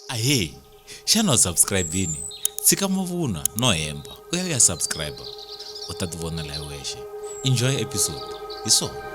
ahee xana u subscribe-ini tshika mavunwa no hemba u ya u ya subscribe u ta ti vonela hi wexe enjoy episode hi swona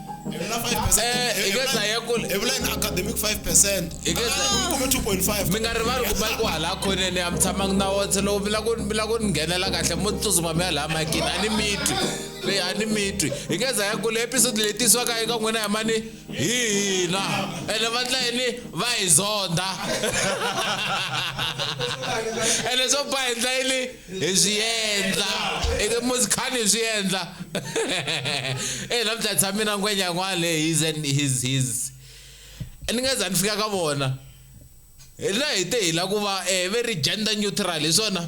Evula 5%. Eh, hi nge dlaya kule. Evula in academic 5%. Hi nge dlaya. Ah, kuma 2.5. Mi nga rivali ku mali ku hala khoneni a mi tshamanga na wona se loko mi lava ku mi lava ku ni nghenela kahle mo tsutsuma mi ya laha makini a ni mitwi leyi a ni mitwi hi nge dlaya kule episode leyi tisiwaka eka n'wina hi mani hi hina ene va ndla yini va hi zonda ene swo ba hi ndla yini hi swi endla muzi khani hi swi endla e namuntlha tshame na ngwenya yin'wana leyi his and his his ni nga za ni fika ka vona hi la hi te hi la ku va eh, very gender neutral hi swona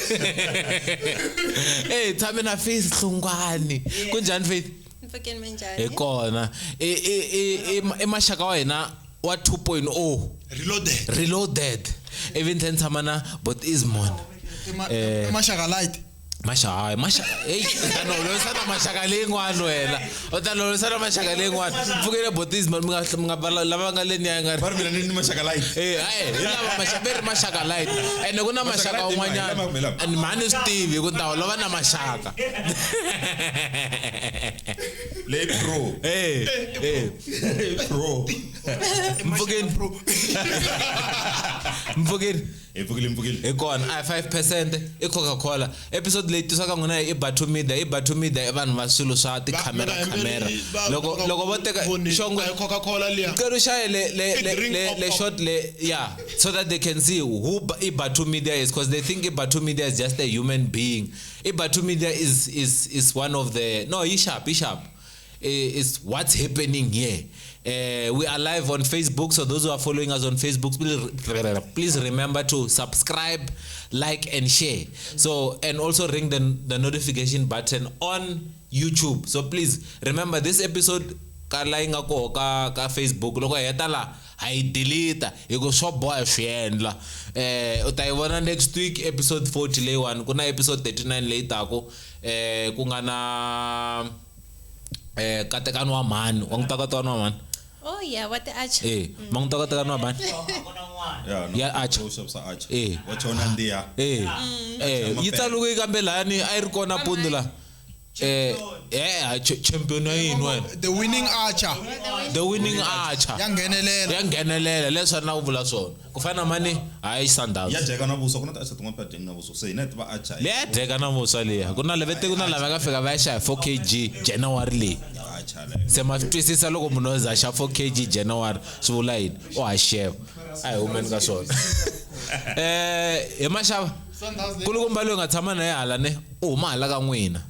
Eh tshame na Faith Hlongwane. Kunjhani Faith? Mpfhukeni mi njhani? Hi kona. I i i i maxaka wa hina wa 2.0. Reloaded. Reloaded. Ivi ni tlhela ni tshama na Bot Ismon. Eh. Maxaka light. Masha hayi, masha. Hey, kana u loyisa na maxaka leyin'wana wena. u ta lovisa na maxaka leyin'wana pfukele botis mali mi nga lava nga le niya nga ri mina ni ni maxaka light eh hayi hi lava maxaka ri maxaka light ene ku na maxaka un'wanyana and mhani swi tivi ku ta lova na maxaka le pro eh eh pro mpfukeni pro mpfukeni hi pfukile mpfukile hi kona a hi 5 percent i coca cola episode leyi tisaka n'wina i batho media i batho media i vanhu va swilo swa tikhamera khamera loko loko vo teka xongo coca cola liya cela shaye le le le le short le ya so that they can see who i batho media is because they think i batho media is just a human being i batho media is is is one of the no yi sharp yi sharp Eh, is what's happening here. Uh, we are live on Facebook, so those who are following us on Facebook, please remember to subscribe, like, and share. So, and also ring the, the notification button on YouTube. So, please remember this episode ka la yi nga koho ka ka facebook loko hi heta laha ha yi deleta hi ku swo boha swi endla um u ta yi vona next week episode 40 leyiwani ku na episode 39 leyi taku um ku nga na eh katekano wa mhani wa n'wi takatekano wa mhani oh yeah wa ti archer eh ma n'wi takatekano wa mhani Yeah, no, Ya Archer. those of Archer. Eh. Wa chona ndiya. eh eh yi tsaluke kambe lani a yi ri kona pundu la eh eh ch- champion wa yini wena the winning archer the winning archer ya nghenelela ya nghenelela leswi a ni la ku vula swona ku fana na mani hayi sundowns ya dyeka na vuswa ku na ti acha tin'wana phadeni na vuswa se hina hi tiva acha leyi ya dyeka na vuswa leyi ku na levete ku na lava nga fika va ya xava 4 kg january leyi se ma swi twisisa loko munhu o za xa 4 kg january swi vula yini o ha xeva a hi humeni ka swona um hi maxava kulukumba loyi nga tshama na ye hala ne u huma hala ka n'wina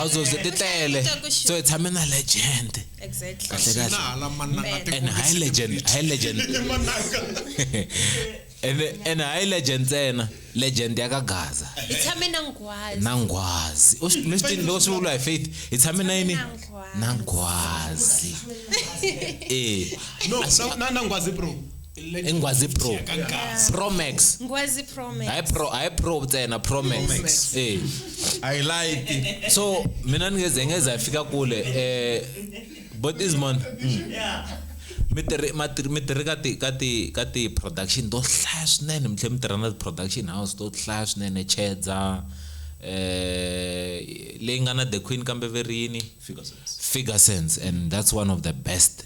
azozwe ti tele so hi tshame na legend kahle kahle and high legend high legend and and high legend ntsena legend ya ka gaza hi tshame na nghwazi na nghwazi u swi swi loko swi vula hi faith hi tshame na yini na nghwazi eh no na na nghwazi bro ingwazi pro pro max ngwazi pro max hayi pro hayi pro ntsena pro max eh i like so mina ngeze ngeze afika kule eh but is man mi tirhi mi tirhi ka ti ka ti ka ti production to hlaya swinene mi tlhe mi tirha na ti production house to hlaya swinene chedza eh leyi nga na the queen kambe verini figure sense and that's one of the best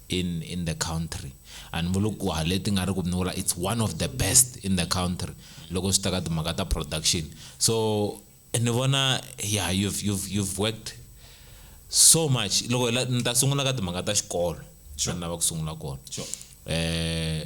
in in the country a ni vuli ku hale ti nga ri ku ni vula it's one of the best in the country loko swi ta ka timhaka ta production so ni vona yeah you've, you've, you've worked so much loko ni ta sungula ka timhaka ta xikolo sure. lava ku sungula kona sure. eh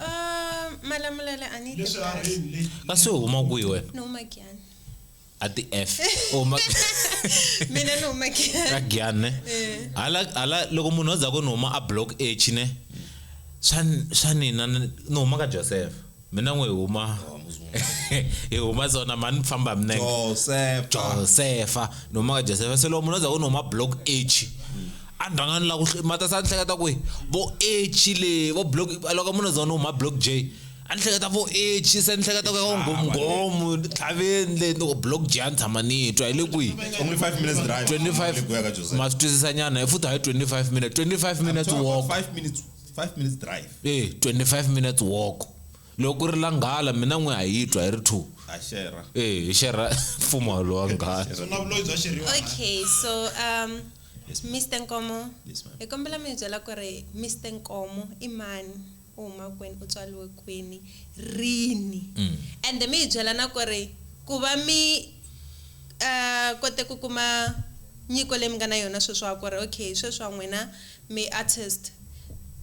Ah, malamulele a ni yi leswi a tirhasi. rini leyi kasi u huma kwihi wena ni huma giyani a ti f u huma mina ni huma giyani ka giyani ne Eh. hala hala loko munhu a dzaka ni huma a block h ne swa ni- swa nina ni ni huma ka joseph mina n'we hi huma hi huma zona mani famba hi minenge josefa josefa ni huma ka josefa se loko munhu a dzaka ni huma block h a ni rhanga ni la ku mata sa ni hleketa ku vo echi le vo block loko munhu zona huma block j a ni hleketa vo echi se ni hleketa ku ya ngomnghomu tlhaveni le ni ku block j a ni tshama ni twa hi le kwihi only 5 minutes drive 25 ma swi twisisa nyana hi futhi hi 25 minutes 25 minutes walk 5 minutes 5 minutes drive eh 25 minutes walk loko ku ri la nghala mina n'we a yi twa hi ri two eh hi xerha mfumo lowa nghala okay so um Yes, ma'am. Mr. Nkomo, Yes, ma'am. hi kombela mi hi byela ku ri Mr. Nkomo i mani, u huma kwini, u tswariwe kwini, rini. Mm. Ende mi hi byela na ku ri ku va mi eh kote ku kuma nyiko leyi mi nga na yona sweswiwa ku ri okay sweswiwa n'wina mi artist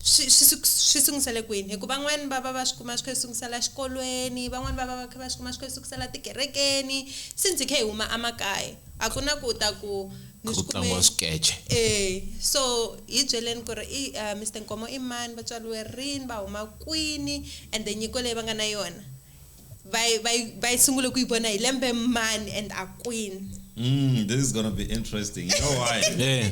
swi swi su- swi sungusele kwini hi ku van'wani va va va swi kuma swi kha swi sungusela xikolweni van'wani va va va kha va swi kuma swi kha swi sukisela tikerekeni since hi kha hi huma a makaya. A ku na ku u ta ku ni Ku swi kume. tlangiwa swikece. E, so hi byeleni ku ri i uh, Mister Nkomo i mani, va tswariwe rini, va huma kwini and the nyiko leyi va nga na yona va yi- va yi- va yi sungule ku yi vona hi lembe mani and a kwini. Mm, this is gonna be interesting. You know why? Eh.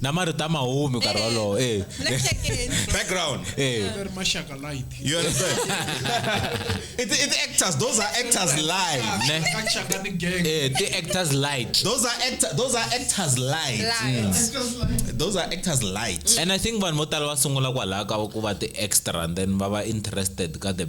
na marito a ma humi nkarhi eh, wolowo eh. background eh. you understand it, it actors those are actors live eh the actors light those are actor those are actors light mm. those are actors light and i think vanhu vo tala va sungula kwalaho ka ku va ti extra and then va va interested ka the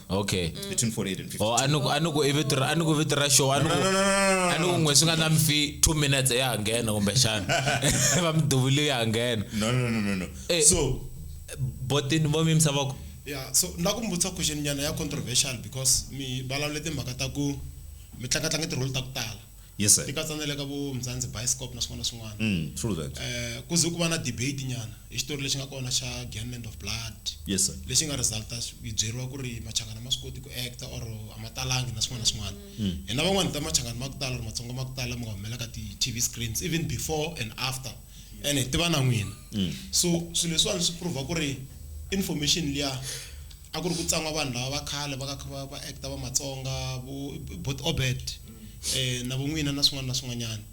okay between 48 and 50 or a ni ku- a ni ku i vito ra- a ni ku vito ra show a ni ku- a ni ku n'we swi nga na mfi two minutes ya ha nghena kumbexana va mi duvile ya ha nghena no no no no no Eh. so botini vo mi yimisa voko yeah so ni la ku mi vutisa question nyana ya controversial because mi vulavule timhaka ta ku mi tlangatlanga ti-role ta ku tala Yes sir. Ti katsa na le ka vo Mzansi Bioscope na swin'wana na swin'wana. Mm, true that. Eh, ku ze ku va na debate nyana hi xitori lexi nga kona xa Gangland of Blood. Yes sir. Lexi nga resulta yi byeriwa ku ri Machangana ma swi koti ku actor or a ma talangi na swin'wana na swin'wana. Mm. Hina van'wana ta Machangana ma ku tala or Matsonga ma ku tala mi nga humela ka ti-TV screens even before and after ene hi tiva na n'wina. Mm. So swilo leswiwani swi prove ku ri information liya a ku ri ku tsan'wa vanhu lava va khale va kha va va actor va Matsonga vo Obert. na vun'wina na swin'wana na swin'wanyana.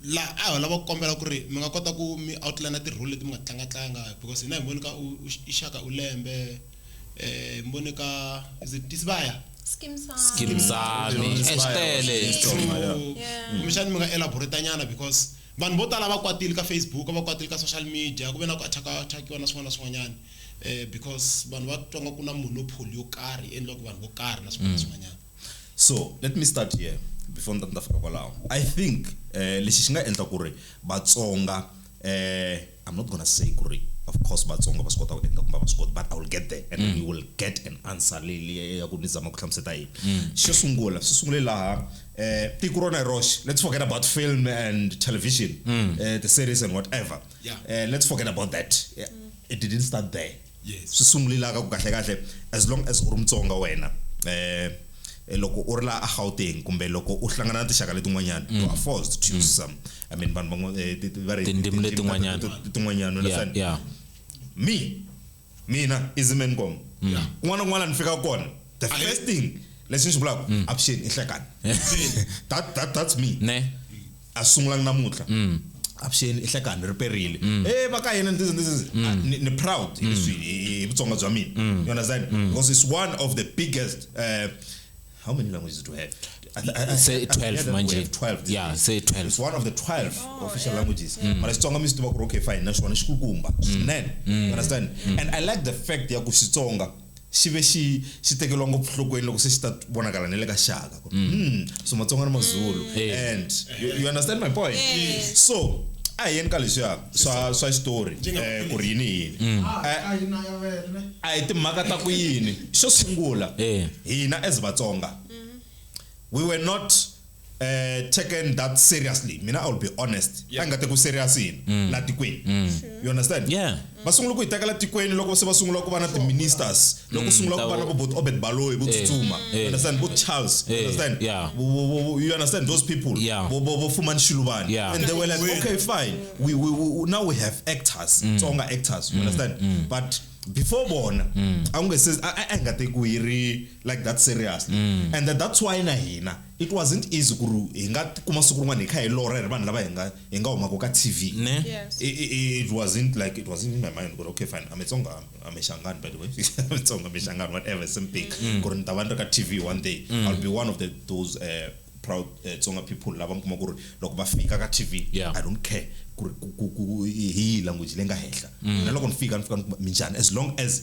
La a ho lava ku kombela ku ri mi nga kota ku mi outline ti role leti mi nga tlanga tlanga because hina hi voni ka u i Shaka u lembe hi mi vone ka is it Tisibaya. Skeem saam. Skeem saam swi tele kumbe xana mi nga elaborate nyana because vanhu vo tala va kwatile ka Facebook va kwatile ka social media ku ve na ku attack-a attack-iwa na swin'wana na swin'wanyana because vanhu va twa nga ku na monopoly yo karhi yi endliwaka vanhu vo karhi na swin'wana na swin'wanyana. so let me start here before ni ta ni ta fika kwalaho i think eh, lexi xi nga endla ku ri vatsonga eh, i'm not gonna say ku ri of course vatsonga va swi kota ku endla kumbe va swi koti but i will get there and mm. we will get an answer leyi leyi ya ku ni zama ku hlamuseta yini mm. xo sungula swi sungule laha eh, tiko rona hi roxe let's forget about film and television mm. eh, the series and whatever yeah. eh, let's forget about that yeah. it didn't start there yes swi sungulila ka ku kahle kahle as long as u ri mutsonga wena eh loko u ri la a Gauteng kumbe loko u hlangana na tixaka letin'wanyana mm. you are forced to choose mm. some i mean vanhu van'we eh, va ri tindzimi letin'wanyana tin'wanyana understand yeah me mina izimen kom mm. kun'wana kun'wana ni fika kona the first thing lexi ni xi vulaka avuxeni i hlekani that that that's me ne a swi sungulanga namuntlha mm. avuxeni i hlekani ri perile mm. e va ka hina ni mm. ni ni proud hi leswi hi vutsonga bya mina you understand because it's one of the biggest uh, how many languages do we have say 12 manje 12 yeah say 12 it's one of the 12 oh, official yeah. languages mm. mara xitsonga mi swi tiva ku ri okay fine naswona xi kukumba swinene you understand and i like the fact ya ku xitsonga xi ve xi xi tekeriwa ngopfu nhlokweni loko se xi ta vonakala ni le ka xaka ku mm. hmm, so matsonga ni mazulu eh. and you, you understand my point yes. so a hi yeni ka leswiya swa swa xitori um ku ri yini yini mm. ah, eh, a hi timhaka ta ku yini xo sungula hina as vatsonga mm-hmm. we were not eh taken that seriously mina i will be honest yeah. nga teku serious yini mm. la tikweni mm. you understand yeah va sungula ku yi tekela tikweni loko se va sungula ku va na ti-ministers loko mm, sungula ku va na vo obert baloyi vo eh, tsutsuma eh. you understand vo charles you eh, understand you understand those people vo fumani xiluvani and they were like okay fine we, we, we, now we have actors tsonga actors you understand but before bona a ku nga se a nga tekiwi yi ri like that seriously mm. and that, that's why na hina it wasn't easy ku ri hi nga kuma siku rin'wana hi kha hi lora hi ri vanhu lava hi nga hi nga humaka ka tv yes. it, it, it wasn't like it wasn't in my mind ku ri okay fine ametsonga amexangani by the way ametsonga amexangani whatever same thing mm. ku ri ni ta va ni ri ka tv one day mm. i'll be one of the, those uh, proud uh, tsonga people lava mi kuma ku ri loko va fika ka tv yeah. i don't care ku ri hi language leyi nga henhla mm. na loko ni fika ni fika ni kuma minjhani as long as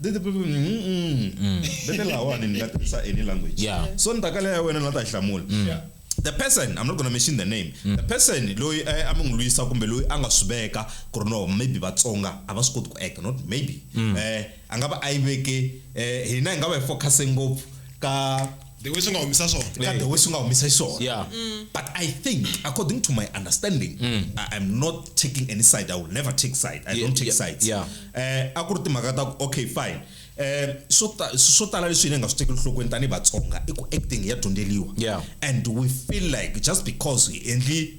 Did the people mm, mm, mm. vete lahawani ni nga tirhisa any language Yeah. so ni ta kala ya wena ni nga ta yi hlamula the person i'm not gonna mention the name the person loyi eh, a mi n'wi lwisa kumbe loyi a nga swi veka ku ri no maybe vatsonga a va swi koti ku acta not maybe eh a nga va a yi veke eh hina hi nga va hi focuse ngopfu ka the way swi nga humisa swona ka the way swi nga humisa xiswona Yeah. but i think according to my understanding I, i'm not taking any side i will never take side i Yeah, don't take yeah, sides yeah. eh a ku ri timhaka ta ku okay fine eh swo ta- swo tala leswi hina hi nga swi tekeli nhlokweni tanihi vatsonga i ku acting ya dyondzeliwa Yeah. and we feel like just because hi endli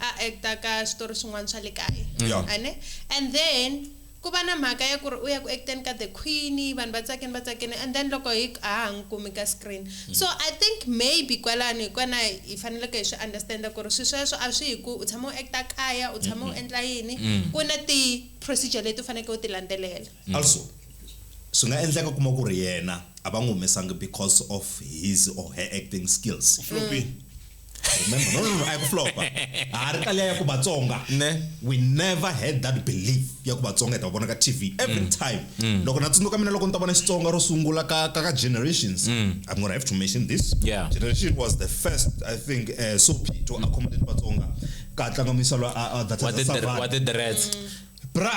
a actor ka switori swin'wana swa le kaya Yeah. a ne and then ku va na mhaka ya ku ri u ya ku acteni ka the queen vanhu va tsakini va tsakini and then loko hi a ha n'wi kumi ka screen so i think maybe kwalano hi kona hi faneleke hi swi understanda ku ri swi sweswo a swi hi ku u tshama u acta kaya u tshama u endla yini ku na ti-procedure leti u faneleke u ti landzelela also swi nga endleka kuma ku ri yena a va n'wi humesangi because of his or her acting skills Sure. remember no no no a yi ku flopa ha ri taliya ya ku vatsonga Ne. we never had that belief ya ku vatsonga hi ta va vona ka tv every time loko na tsundzuka mina loko ni ta vona xitsonga ro sungula ka ka ka generations i'm gonna have to mention this Yeah. generation was the first i think uh, sopi to accommodate vatsonga ka tlanga misalo a a- data wa za ti- Savannah. wa ti-dreads bra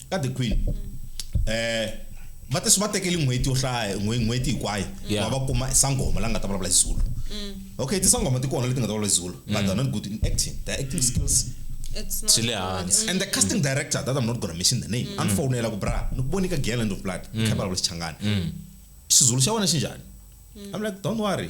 ka the queen eh va te swi va tekeli n'hweti yo hlaya n'hweti hinkwayo va va kuma sangoma la nga ta vulavula xizulu mm. okay tisangoma ti kona leti nga ta vulavula xizulu but mm. they're not good in acting their acting skills swi le hansi and the casting director that i'm not gonna mention the name mm. andifonela ku bra ni ku vonika girl end of blood kha vulavula xichangani xizulu xa wena xi njhani i'm like don't worry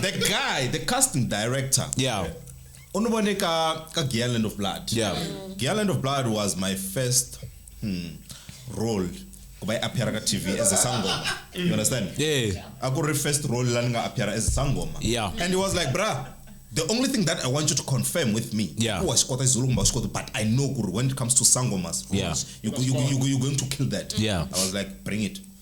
the guy the casting director yeah u ni vone ka ka Giyani Land of Blood yeah Giyani Land of Blood was my first hmm, role ku va yi appeara ka TV as a sangoma you understand yeah a ku ri first role la ni nga appeara as a sangoma yeah and he was like bruh the only thing that i want you to confirm with me yeah. kuwa xi kota xizulu kumbe xi kota but i know ku ri when it comes to sangomas yeah. you, you, you, you're going to kill that yeah. i was like bring it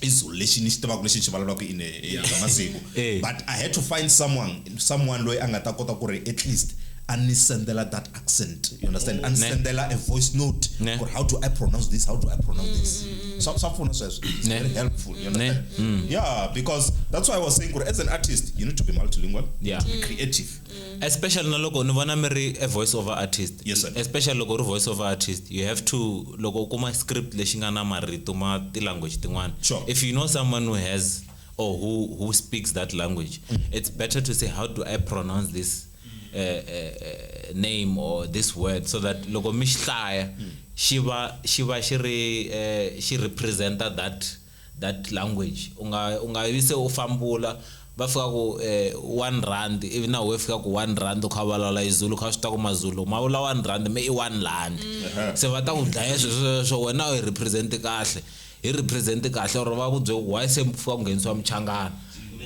i zulu lexi ni xi tivaka lexi ni xi vulavulaka in a masiku eh. but i had to find someone someone loyi a nga ta kota ku ri at least a ni sendela that accent you understand a ni sendela a voice note ku how do i pronounce this how do i pronounce this mm, mm, mm. swa swa pfuna sweswo it's very helpful you understand yeah because that's why i was saying ku as an artist you need to be multilingual yeah. to be creative mm. especially na loko ni vona mi ri a voice over artist yes, especially loko ri voice over artist you have to loko u kuma script lexi nga na marito ma ti-language tin'wana sure. if you know someone who has or who, who speaks that language mm. it's better to say how do i pronounce this uh, uh, uh name or this word so that loko mi xi hlaya mm. xi va xi va xi ri uh, xi representa that uh, that language unga unga vi se u fambula va fika ku eh, one rand ivi na we fika ku one rand u kha vulavula izulu kha swi ta ku mazulu ma vula one rand me i one land mm. se va ta ku dlaya swesweswo wena u hi represent kahle hi represent kahle or va ku bye why se mi fika ku nghenisiwa muchangana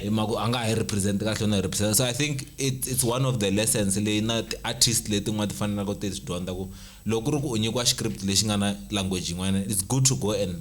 hi maku a nga ha hi represent kahle na represent so i think it, it's one of the lessons leyi na ti-artist letin'wana ti fanelaka ti swi dyondza ku loko ku ri ku u nyikiwa script lexi nga na language yin'wana it's good to go and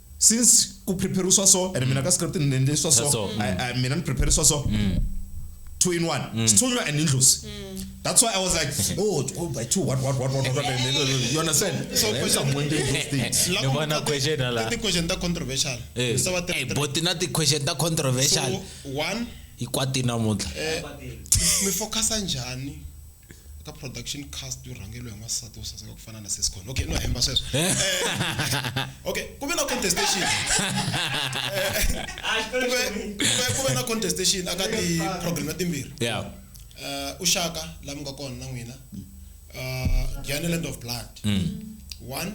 since ku prepare swa so and mina ka script ni endle swa so so, mm. I, I, mina ni prepare swa so mm. two in one mm. sithunywa and indlozi mm. that's why i was like oh, oh by two what what what what what you understand so yeah, question one day those things la ko na question la the question ta controversial eh so what eh but na the question ta controversial so one ikwati namuhla eh mi focus njani ka production cast yo rhangeriwa hi n'wansati wo saseka ku fana na siscon okay no hemba sweswo eh. okay ku ve na contestation ku ve na contestation aka ti-program ya timbirhi eh, u xaka la mi nga kona na n'wina eh, giana land of blood mm. one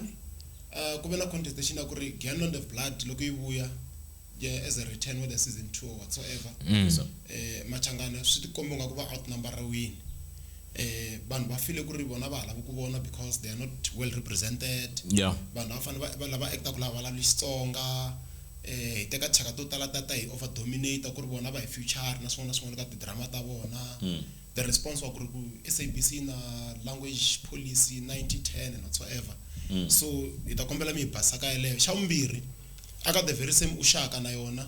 ku ve na contestation ya ku ri giana land of blood loko yi vuya yeah, as a return whether season two or whatsoever mm. so, eh, machangana swi tikomba nga ku va outnumber ra wini eh vanhu va file ku ri vona va halava ku vona because they are not well represented yeah. vanhu va fanele va lava acta ku lava vulavuli xitsonga eh hi teka thyaka to tala tata hi over dominator ku ri vona va hi future na swin'wana na swin'wana ka tidrama ta vona mm. the response wa ku ri ku sabc na language policy 9010 and whatsoever mm. so hi ta kombela mi hi basaka yeleyo xa vumbirhi Aka the very same ushaka na yona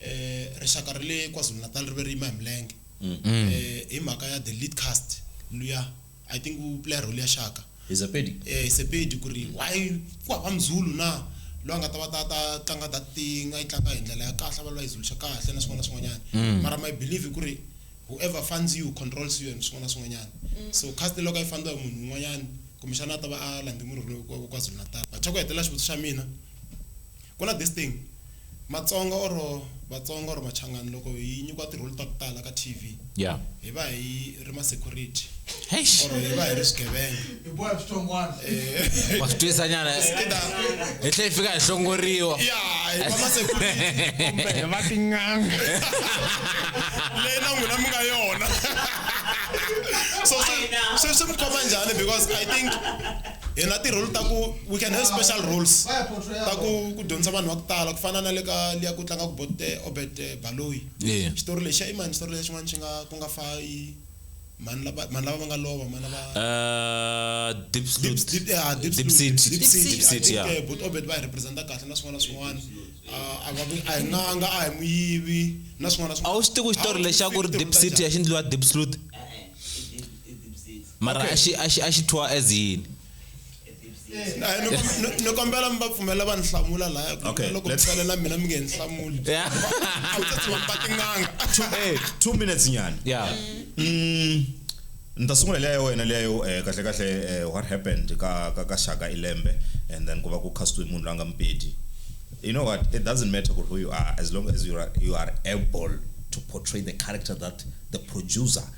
eh rixaka ra le KwaZulu Natal ri ve ri yima hi milenge eh hi mhaka ya the lead cast luya I think u play role ya Shaka Hi Sepedi eh Sepedi ku ri why ku hava muzulu na loyi a nga ta va ta ta tlanga that thing a yi tlanga hi ndlela ya kahle a va loyi a yi zuluxa kahle na swin'wana na swin'wanyana mara my believe ku ri whoever funds you controls you and swin'wana na swin'wanyana so cast loko a yi fandiwa hi munhu un'wanyana kumbexana a ta va a landze murhi lowu wa KwaZulu Natal but xa ku hetelela xivutiso xa mina Ku na this thing matsonga or vatsonga or machangani loko hi nyikiwa tirholi ta ku tala ka TV yeah hi va hi ri ma security Eish. or hi va hi ri swigevenga hi boya switongwana Eh, wa swi twisa nyana either hi tlhe hi fika hi hlongoriwa ya hi va ma security kumbe va tin'anga leyi na n'wina mi nga yona so swi- swi swi mi khoma njhani because i think hi na tirholi ta ku we can have special roles ta ku ku dyondzisa vanhu va ku tala ku fana na le ka liya ku tlanga ku bot eh, obet eh, baloyi xitori lexi i mani xitori lexi xin'wana xi nga ku nga fa i mani lava mani lava va nga lova mani lava eh, deep seat deep seat ya bot obet va hi representa kahle na swin'wana na swin'wana a nga a hi n'anga a hi muyivi na swin'wana na swin'wana a wu swi tivi xitori lexi a ku ri deep seat ya xi ndliwa deep slot mara Okay. a xi- a xi- a xi thyiwa as yini Hayi, ni kom- ni- ni kombela mi va pfumela va ni hlamula laya ku Okay, loko mi let's- tsale na mina mi nge ni hlamuli Yeah. a wu ta tshama mi ba tin'anga Eh, two minutes nyana yeah Mm, ni ta sungula leya ya wena leya yo eh, kahle kahle eh, what happened ka ka ka shaka ilembe and then ku va ku castwe munhu la nga mpedi you know what it doesn't matter who you are as long as you are, you are able to portray the character that the producer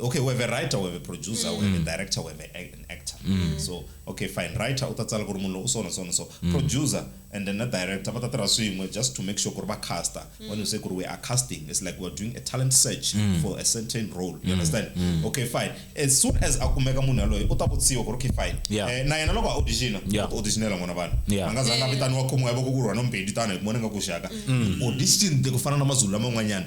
okay we have a writer we have a producer mm. we have a mm. director we have a, an actor mm. so okay fine writer u ta tsala ku ri munhu lowu so na so na so mm. producer and then na director va ta tirha swin'we just to make sure ku ri va caster mm. when you say ku ri we are casting it's like we're doing a talent search mm. for a certain role you mm. understand mm. okay fine as soon as a kumeka munhu yaloye u ta vutsiwa ku ri okay fine yeah. eh, na yena loko a auditiona yeah. auditionela n'wana vanhu yeah. a nga zanga vitaniwa khomiwa yavoko ku rhwa no mbedi tano hi kumona nga ku xaka mm. audition ku fana na mazulu laman'wanyana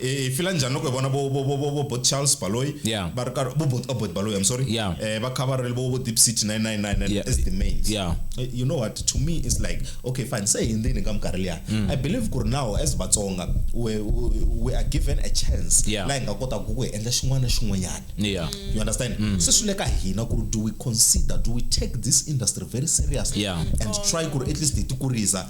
e fila njhani loko hi vona vo vo vo vo vo bot charles baloyi Yeah. va ri karhi vo bot oh, bot baloyi i'm sorry Yeah. eh va kha va ri vo vo deep city 999 Yeah. as the mains Yeah. Eh, you know what to me is like okay fine se hi ndzeni ka minkarhi liya Mm. i believe ku ri now as vatsonga we, we, we are given a chance Yeah. laha hi nga kotaka ku hi endla xin'wana na xin'wanyana Yeah. you understand Mm. se swi le ka hina ku ri do we consider do we take this industry very seriously Yeah. and try ku ri at least hi ti kurisa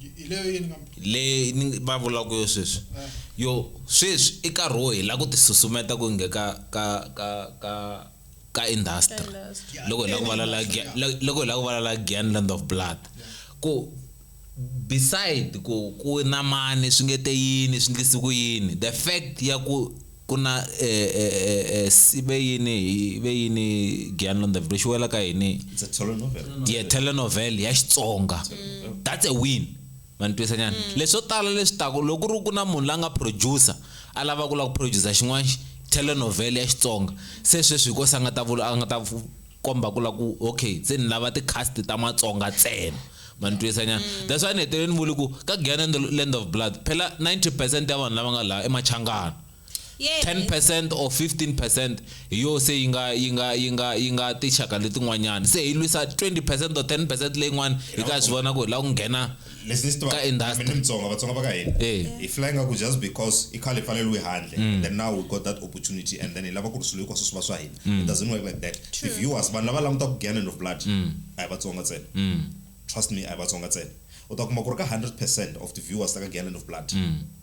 Hi leyo yini kambe? Leyi ni va vulaka yo sweswi. Eh. Yo sweswi i nkarhi wo hi la ku ti susumeta ku nge ka ka ka ka ka industry. Industry. Loko hi la ku valala Gyan- Yeah. lo- loko hi la ku valala Gyan Land of Blood. Ku beside ku ku na mani swi nge te yini swi ndlise ku yini the fact ya ku Ku na e, e, e, e, si ve yini hi ve yini Giyani Londaville xi wela ka yini? It's a telenovel. ye telenovel ya Xitsonga that's a win ma ni twisa nyana leswo tala leswi taku loko ku ri ku na munhu la nga producer a lava ku la ku producer xin'wana telenovel ya Xitsonga se sweswi hi ko se a nga ta vula a nga ta komba ku la ku okay se ni lava ti-cast ta matsonga ntsena ma ni twisa nyana mm. that's why ni hetelele ni vuli ku ka gana the land of blood phela 90 percent ya vanhu lava nga laha emachangana 10 percent or 15 percent hi yo se yi nga yi nga yi nga yi nga tinxaka letin'wanyana se hi lwisa 20 percent or 10 percent leyin'wana hi ka swi vona ku hi lava ku nghena leswi ni swi Ka industry. tivaka mutsonga vatsonga va ka hina Eh. hi fly nga ku just because i khale hi pfaleliwe handle Mm. then now we got that opportunity and then hi lava ku ri swilo hinkwaswo swi va swa hina Mm. it doesn't work like that True. the viewers vanhu lava langutaka ku giant of blood Mm. a hi vatsonga ntsena Mm. trust me a hi vatsonga ntsena u ta kuma ku ri ka 100 percent of the viewers ta ka giant of blood Mm.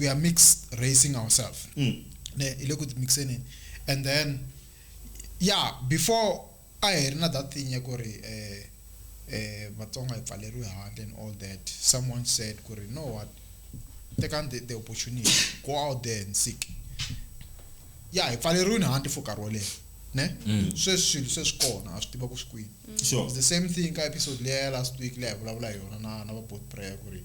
we are mixed racing ourselves mm. ne ile ku mixeni and then yeah before a hi ri na that thing ya ku ri eh eh vatsonga hi pfaleriwe handle and all that someone said ku ri no what take on the, the opportunity go out there and seek ya hi pfaleriwini handle for nkarhi wo leha ne mm. sweswi swilo se swi kona a swi tiva ku swi kwini mm. the same thing ka episode leya ya last week leyi hi vulavula hi yona na na va bot prayer ku ri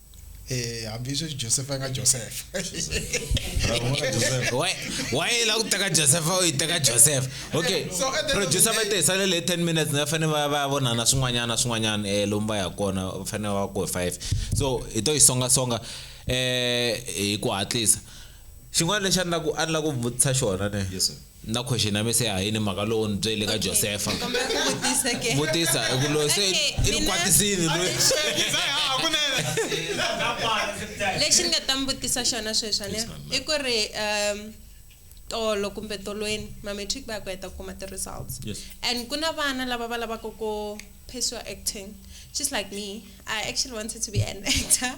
Eh, hambi sweswi josefa yi nga josefa waye la ku teka josefa u yi teka josefa okay producer va te sale le 10 minutes va fanele va va vonana swin'wanyana swin'wanyana um lomu va ya kona va fanele va ku five so hi to yi songasonga um hi ku hatlisa xin'wana lexi a ni la ku a ni la ku vutisa xona ne Na question ya mi se hayini mhaka lowu ni byele ka Josefa. Vutisa i ku loyi se i ni kwatisini loyi. Lexi ni nga ta mi vutisa xona sweswi ne i ku ri um tolo kumbe tolweni ma-matric va ya ku heta ku kuma ti-results and ku na vana lava va lavaka ku phesiwa acting just like me I actually wanted to be an actor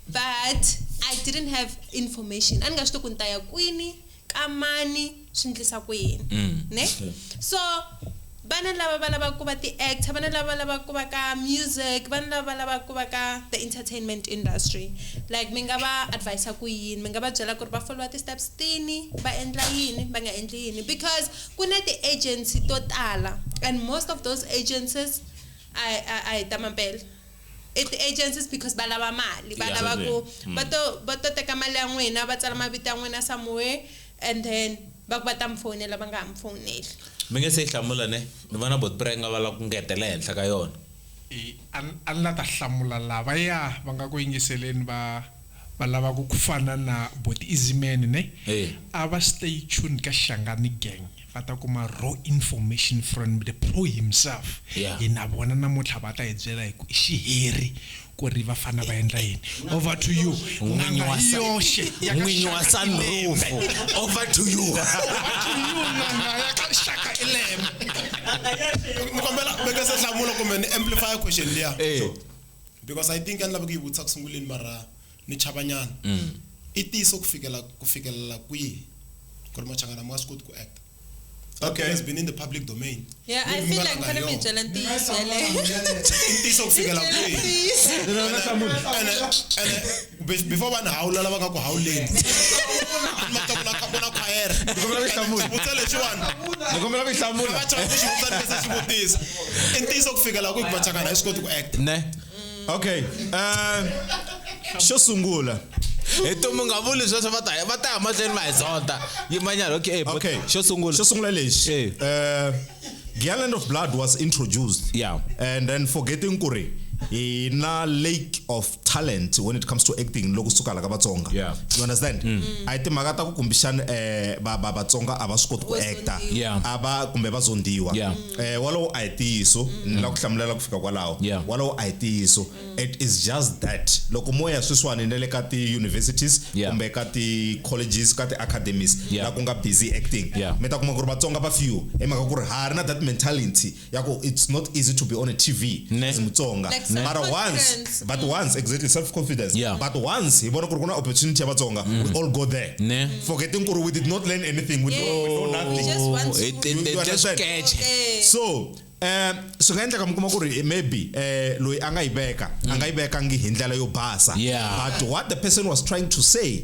but I didn't have information a ni nga swi tivi ku ni ta ya kwini ka mani swi ndlisa ku yini mm. ne so vana lava va lavaka ku va ti-actor vana lava va lavaka ku va ka music vana lava va lavaka ku va ka the entertainment industry like mi nga va advisa ku yini mi nga va byela ku ri va followa ti-steps tini va endla yini va nga endli yini because ku na ti-agency to tala and most of those agencies a hi ta mampela I ti agencies because va lava mali va lava ku mm. va to va to teka mali ya n'wina va tsala mavito ya n'wina somewhere and then va ku va ta mi fowunela va nga ha mi fowuneli mi nge se yi hlamula ne ni vona bot prenga va lava ku ngetela ehenhla ka yona a ni la ta hlamula lava ya va nga ku yingiseleni va Va lava ku ku fana na boti Izimeni ne a va stay tuned ka Hlangani gang va ta kuma raw information from the pro himself hi na vona namuntlha va ta hi byela hi ku i xiheri ku ri va fana va endla yini over to you n'anga hi yoxe ya ka n'winyi wa sunroof over to you n'anga ya ka Shaka Ilembe ni kombela mi nga se hlamula kumbe ni amplify question liya. because i think a ni lava ku yi vutisa ku sunguleni mara ni chavanyana mm. i tiso ku fikela ku fikelela kwihi ku ri machangana ma swi koti ku acta okay has been in the public domain yeah i feel like kana mi byela ntiyiso yale ntiyiso ku fikela kwihi kumbe before vanhu hawula lava nga ku hawuleni matavula khapo na khwayere xivutisa lexiwani nikombela ku hlamula vachaka ku xivutisa ni kese xivutisa i ntiyiso ku fika laha ku ku vachakana hi swi koti ku act ne okay um xo sungula hi tumu nga vuli sweswo va ta va ta ya mahlweni va hi zonta yimanyana okay okay xo sungula xo sungula lexi um Giant of Blood was introduced. Yeah. And then forgetting Kure, in a lake of talent when it comes to acting loku suka la ka vatsonga yeah. you understand mm. a hi timhaka ta ku kumbixana um eh, vatsonga a va swi koti ku acta a va kumbe va zondiwa um eh, walowo a hi tiyiso mm. ni la ku hlamulela ku fika kwalaho walowo a hi tiyiso mm. it is just that loko mo ya sweswiwani na le ka ti-universities kumbe ka ti-colleges ka ti-academies la ku nga busy acting mi ta kuma ku ri vatsonga va few hi mhaka ku ri ha ri na that mentality yako it's not easy to be on a tv Ne. as mutsonga Like Ne. mara once self-confidence. but once exactly self confidence Yeah. but once hi vona ku ri ku na opportunity ya vatsonga we all go there Ne. forgetting ku ri we did not learn anything we Yeah. know, we know nothing Just one Oh, it- it- You- you it- just understand? catch. Okay. so um swi nga endleka mi kuma ku ri eh, maybe eh loyi a nga yi veka a nga yi vekangi hi ndlela yo basa Yeah. but what the person was trying to say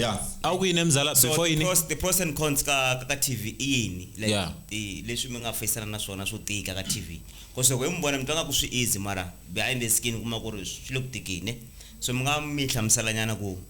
ya a wu ku yini mzala so before the yini pros, the pros and cons ka, ka, ka tv i yini like, Yeah. i- leswi mi nga feyisana na swona swo tika ka tv bcause loko hi mi vona mi twa nga ku swi easy mara behind the skin u kuma ku ri swi le ku tikini so mi nga mi hlamuselanyana ku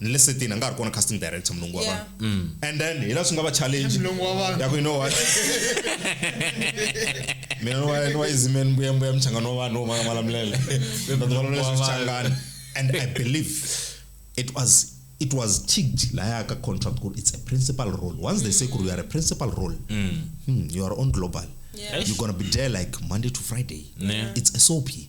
ni le setini a nga ha ri kona casting director mulungu wa Yeah. vanhu and then hi la swi nga va challenge Mulungu wa vanhu. ya ku you know what mina ni wa- ni wa izimeni mbuya mbuya mchangano wa vanhu wo manga malamulele Ni ta malamulele Wa vanhu. swichangani and i believe it was it was ticked laya ka contract ku ri it's a principal role once they say ku ri you are a principal role hmm, you are on global Yeah. you're gonna be there like monday to friday Ne. it's a soapy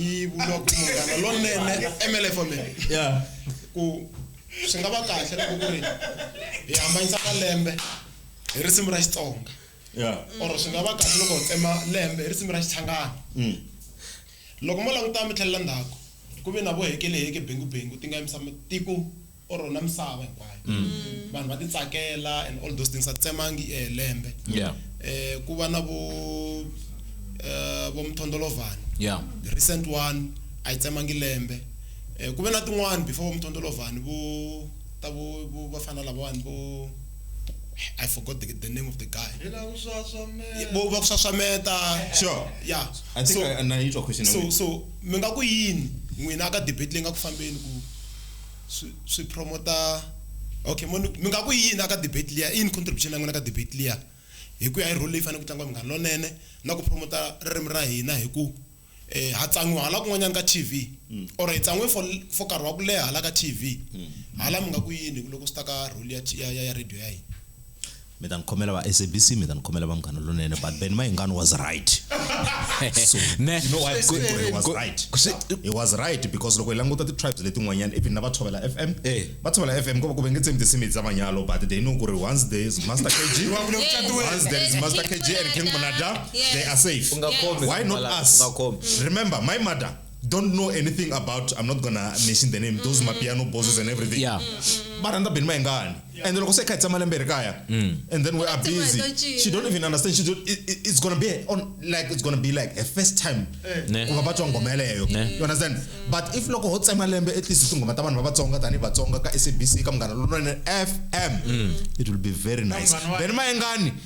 yi vula ku munghana lonene mlfome ya ku swi nga va kahle loko ku ri hi hambanyisa malembe hi risimu ra xitsonga ya or swi nga va kahle loko hi tsema lembe hi risimu ra xichangana mm. loko mo languta mi tlhelela ndzhaku ku ve na vo hekeleheke bengubengu ti nga yimisa matiko or rona misava hinkwayo mm. vanhu va titsakela and all those things a tsemangi i eh, lembe yeah. eh, ku va na vo eh, vo mthondolovhani yeah. the recent one a yi tsemangi lembe eh, ku ve na tin'wani before vo mthondolovhani vo ta vo va fana lavawani vo I forgot the, the name of the guy. Bo va kusaswameta. Sure. Yeah. I think so, I, I, I need your question. So so mi nga ku yini n'wina ka debate leyi nga ku fambeni ku swi swi promoter okay mo ni mi nga ku i yini a ka debate liya i yini contribution ya n'wina ka debate liya hi ku ya hi role leyi fanele ku tlangiwa Munghana Lonene na ku promoter ririmi ra hina hi ku ha tsan'wiwa hala kun'wanyana ka T_V or hi tsan'we for for nkarhi wa ku leha hala ka T_V hala mi nga ku yini loko swi ta ka role ya ya ya radio ya hina. mi ta ni khomela va sabc mi ta ni khomela va munghana lonene but ben mayingani was right so ne you know why I'm saying he was right he was right because loko hi languta ti-tribes letin'wanyana even na va tshovela f m eh. va tshovela f m ku va ku ve nge tsemi tinsimu bya manyalo but they know ku ri once there is master kg once there is master kg and king munada they are safe why not us remember my mother don't know anything about i'm not gonna mention the name those mapiano bosses and everything Yeah. va rhandza beni mayengani and loko se kha hi tshama lembe ri kaya and then we are Tin'wana busy to cinca. she don't even understand she don't, it, it- it's gonna be on like it's gonna be like a first time Ne. ku va va twa ngoma yeleyo Ne. you understand but if loko ho tsema lembe at least tinghoma ta vanhu va vatsonga tanihi vatsonga ka sabc ka munghana lonene fm it will be very nice Vanghana wa- beni mayengani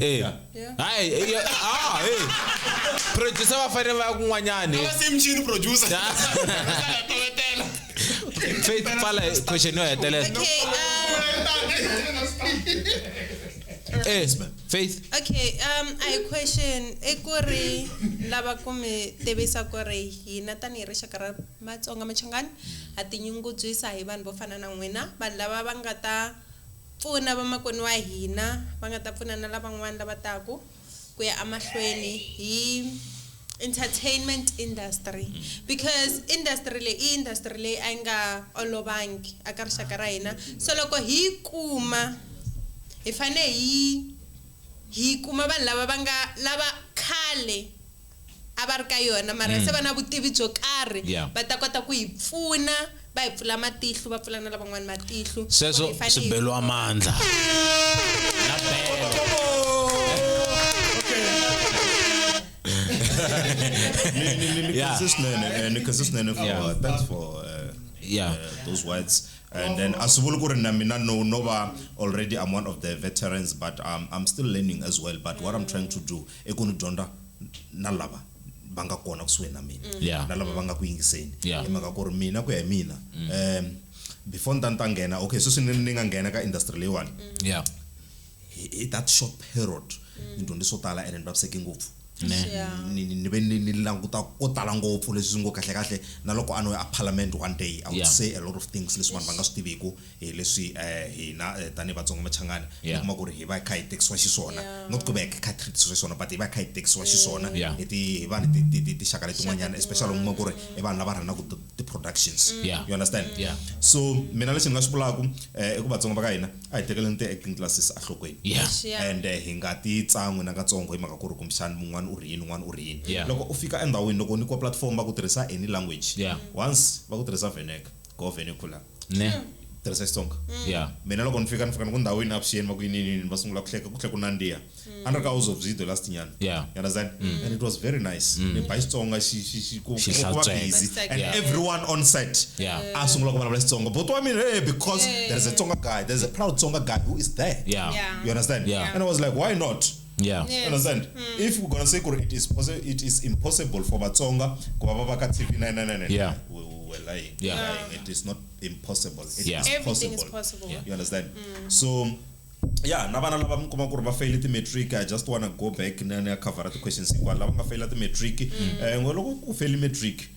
Eh. Hayi, eh, yo- ah, hey. Producer va fanele va ya kun'wanyani. Ava se mchini producer. Ya. Hlaya tovetela. Faith pfala hi question yo hetelela. Okay, um, Eh, Faith. okay, um, a hi question i ku ri lava ku mi tivisa ku ri hina tanihi rixaka ra Matsonga Machangani ha tinyungubyisa hi vanhu vo fana na n'wina, vanhu lava va nga ta Pfuna vamakwenu wa hina va nga ta pfuna na lavan'wana lava taku ku ya emahlweni hi entertainment industry because industry leyi i industry leyi a yi nga olovangi a ka rixaka ra hina so loko hi yi kuma hi fane hi hi kuma vanhu lava va nga lava khale a va ri ka yona mara mm. se va na vutivi byo karhi yeah. va ta kota ku hi pfuna va hi pfula matihlu va pfula na lavan'wana matihlu sweswo swi beliwa mandla na belo nikhasesinene for thanks for uh, yeah. uh, those words and then as vuli ku ri na mina no no va already i'm one of the veterans but um, i'm still learning as well but what i'm trying to do i ku ni dyondza na lava va nga kona kusuhi na mina mm. yeah. na lava va nga ku yingiseni yeah. hi mhaka ku ri mina ku ya hi mina mm. um before ni ta ni ta nghena okay sweswi ni ni nga nghena ka industry leyiwani mm. yeah. hi that short period mm. ni dyondze swo tala ene ni vaviseke ngopfu ni ve ni languta ko tala ngopfu leswi swi ngo kahlekahle na loko a no ya a parliament one day i would yeah. say a lot of things leswi vanhu va nga swi tiviku hi leswi eh, hina eh, tanihi vatsonga machangani yeah. kuma ku ri hi va hi kha hi tekisiwa xiswona yeah. not ku va hi kha treatiswa xiswona but hi va hi kha hi tekisiwa xiswona yeah. hi ti hi va ni tixaka letin'wanyana especially uma ku ri i vanhu lava rhanaka ti-productions mm. yeah. you understand yeah. so mina lexi ni nga swi vulaka eh, i ku vatsonga va ka hina a hi tekeleni ti-acting classes ahlokweni yeah. yeah. and eh, hi nga ti tsan'wi na katsongo hi mhaka ku ri kumbexani mun'wana u ri yini un'wana u ri yini yeah. loko u fika endhawini loko ni kwa platform va ku tirhisa any language yeah. once va ku tirhisa veneka go venekula ne tirhisa xitsonga ya mina loko ni fika ni fika ni ku ndhawu yini avuxeni va ku yini yini yini, va sungula ku hleka ku tlhe ku nandziha a ni ri ka house of video last nyana Yeah. you understand and it was very nice ni ba xitsonga xi- xi- xi- ku Xi ku- ku va hlantsweka. busy It's like- and Yeah. everyone on set Yeah. a sungula ku vulavula xitsonga but wa mina hey because there is a tsonga guy there is a proud tsonga guy who is there Yeah. Yeah. you understand Yeah. and i was like why not yeah. yes. understand mm. if we're gonna say kuri it is it is impossible for vatsonga ku va va va ka tv 999 yeah. we, we were lying yeah. lying it is not impossible it yeah. is possible. Is possible. Yeah. you understand mm. so ya na vana lava mi kuma ku ri va feyile ti-matric i just wanna go back ni ya covera ti-questions hinkwana lava nga feyila ti-matric um mm. eh, ngo loko ku feyile matric mm.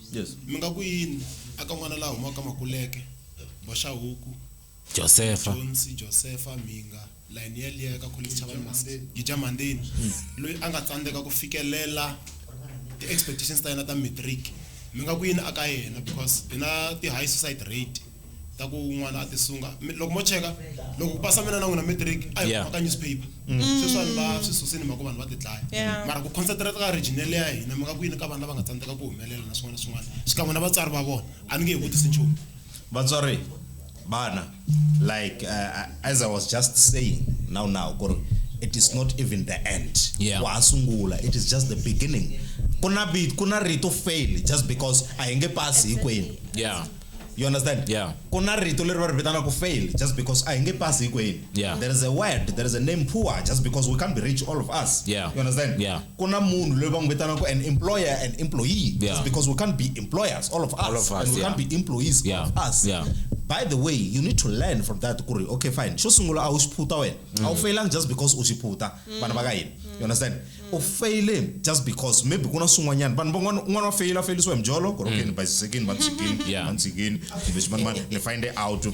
Yes. mi nga ku yini aka n'wana la humaka makuleke boxahuku Josefa. jonsi josefa mhinga layini yeliya eka kholichi chavani masi gija mandini loyi a nga tsandzeka ku fikelela ti-expectations ta yena ta matric mi nga ku yini aka yena because hi na ti-high suicide rate ta ku n'wana a tisunga Mi- loko mo cheka loko ku pasa mina na n'wina matric a hi Yeah. kumaka newspaper sweswi vanhu va swi susini mhaka vanhu va tidlaya Yeah. mara ku concentrate ka regional ya hina mi nga ku yini ka vanhu lava nga tsandzeka ku humelela na swin'wana na swin'wana xikan'we na vatswari va vona a ni nge hi vutisi nchumu vatswari vana like uh, as i was just saying now now ku ri it is not even the end Yeah. wa ha sungula it is just the beginning ku na vi- ku na rito fail just because a hi nge pasi hinkwenu Yeah. you understand yeah. ku na rito leri va ri vitanaka fail just because a hi nge pasi hinkwenu yeah. there is a word there is a name poor just because we can't be rich all of us yeah. you understand yeah. ku na munhu loyi va n'wi vitanaka an employer and employee yeah. just because we can't be employers all of us, all of us and we yeah. can't be employees yeah. all of us yeah. by the way you need to learn from that ku ri okay fine xo sungula a wu xi phuta wena a wu mm. failanga just because u xi phuta vana va ka hina you understand u mm. feyile just because maybe ku na swin'wanyana vanhu van'wana un'wana wa feyila feyilisiwa hi mjolo korokeni mm. basisekini vandzikini vandzikini kumbe ximanimani ni find it out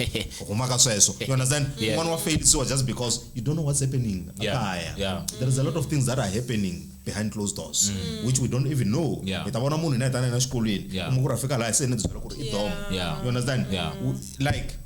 huma ka sweswo you understand un'wana wa feyilisiwa just because you don't know what's happening akaya there is a lot of things that are happening behind closed doors mm. which we don't even know hi ta vona munhu i na yitana yena xikolweni u n'wi ku ra fika laha se ni byela ku ri i dom you understand like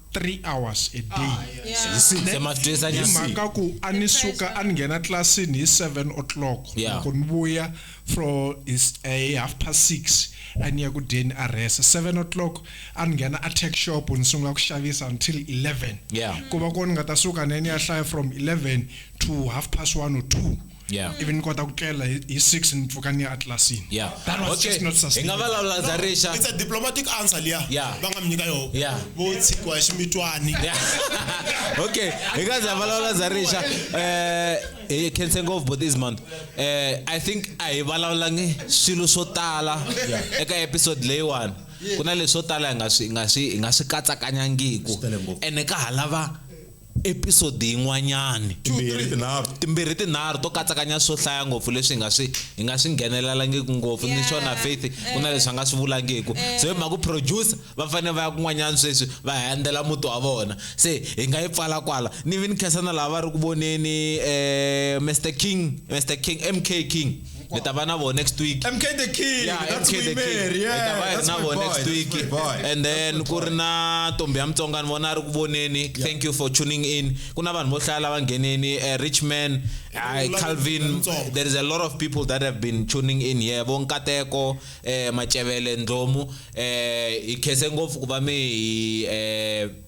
three hours a day Hi six ne? emahlweni hi six mhaka ku a ni suka a ni nghena tlilasini hi seven o'clock Yeah. loko ni vuya fro hi s- eh, hi half past six a ni ya ku dyeni a rhesa seven o'clock a ni nghena a tech shop ni sungula ku xavisa until eleven Yeah. ku va ko ni nga ta suka ne ni ya hlaya from eleven to half past one or two Yeah. ivi ni kota ku tlela hi hi six ni pfuka ni ya atlasini Yeah. that was Okay. just not Hi nga sustainable vulavula ndza rixa. it's a diplomatic answer liya Yeah. va nga mi nyika yoho Yeah. vo tshikiwa hi ximitwani Yeah. okay hi nga za vulavula za rixa eh hi khense ngopfu bo this month eh i think a hi vulavulangi swilo swo tala eka episode leyiwani ku na leswo tala hi nga swi hi nga swi hi nga swi katsakanyangiku Swi tele ngopfu. ene ka ha lava episodi yin'wanyani timbirhi tinharhu to katsakanya swo hlaya ngopfu leswi hi nga swi hi nga swi nghenelelangiki ngopfu ni xona faith ku na leswi va nga swi vulangiku so hi mhaka producer va fanele va ya kun'wanyana sweswi va handzela muti wa vona se hi nga yi pfala kwala ni vi ni khensa na lava va ri ku voneni um eh, mr king mr king mk king ni ta va na vo next week mk the king yeah, that's MK the king ni ta va hi na vo next week and then ku ri na ntombi ya mutsonga ni vona a ri ku voneni thank you for tuning in ku na vanhu vo hlaya lava ngheneni eh, rich man eh, calvin there is a lot of people that have been tuning in here vo nkateko um eh, macevele ndlomu um hi khese ngopfu ku va mi hi um